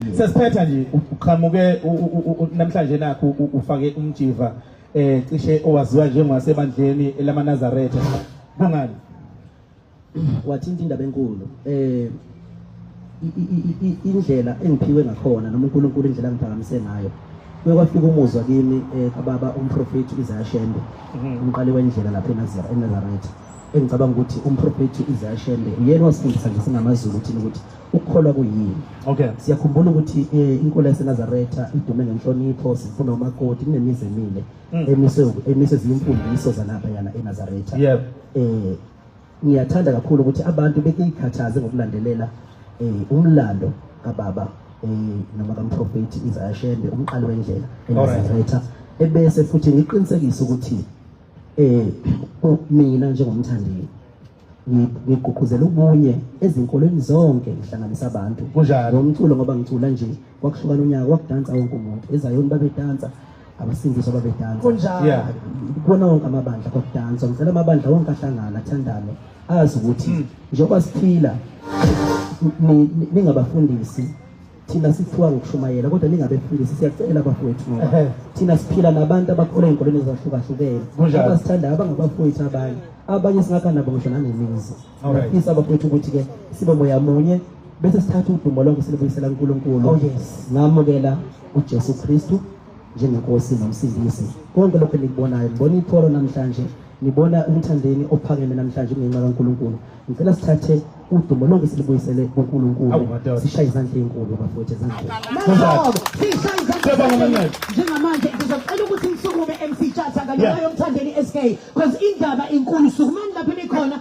Sesiphetha nje uqhamuke namhlanje nakho ufake umjiva eh cishe owaziwa njengowasebandleni lamaNazaretha. Kungani? Wathinta indaba enkulu. Eh indlela engiphiwe ngakhona noma uNkulunkulu indlela angiphakamise ngayo. Kuye kwafika umuzwa kimi eh kababa umprofeti Isaiah Shembe mhm. umqali wendlela lapha eNazaretha. Engicabanga ukuthi umprofeti Isaiah Shembe uyena wasifundisa nje singamaZulu ukuthi ukuthi ukukholwa kuyini okay siyakhumbula ukuthi eh, inkolo yaseNazaretha idume ngenhlonipho sifuna umakoti kunemizi emile mm. emise emise zimfundiso zalapha yana eNazaretha yep eh ngiyathanda kakhulu ukuthi abantu bekuyikhathaze ngokulandelela eh umlando kababa eh noma kamprofeti Isaiah Shembe umqali wendlela eNazaretha ebese futhi ngiqinisekisa ukuthi eh mina njengomthandeli ngigqugquzela ubunye ezinkolweni zonke ngihlanganisa abantu kunjalo umculo ngoba ngicula nje kwakuhlukana unyaka kwakudansa wonke umuntu ezayoni babedansa abasindiswa babedansa kunjalo kubona wonke amabandla kwakudansa ngicela amabandla wonke ahlangana athandane azi ukuthi hmm. njengoba siphila ningabafundisi thina sithiwa ngokushumayela kodwa ningabefundisi siyacela bafowethu ngoba thina siphila nabantu abakhula ey'nkolweni ezahlukahlukene abasithandayo abangabafowethu abanye abanye singakha nabo ngisho nanemizi ngafisa abafowethu ukuthi-ke sibe moya munye bese sithatha udumo lonke silibuyisela kunkulunkulu oh, ngamukela ujesu kristu njengenkosi nomsindisi konke lokhu enikubonayo ngibona itholo namhlanje ngibona umthandeni ophakeme namhlanje ngenxa kankulunkulu Ngicela sithathe udumo lonke silibuyisele kuNkulunkulu. Sishaye izandla ezinkulu bafowethu ezandleni. Sishaye izandla. Njengamanje ngizocela ukuthi ngisukume MC Chatha kanye nayo mthandeni SK because indaba inkulu sukumani lapho nikhona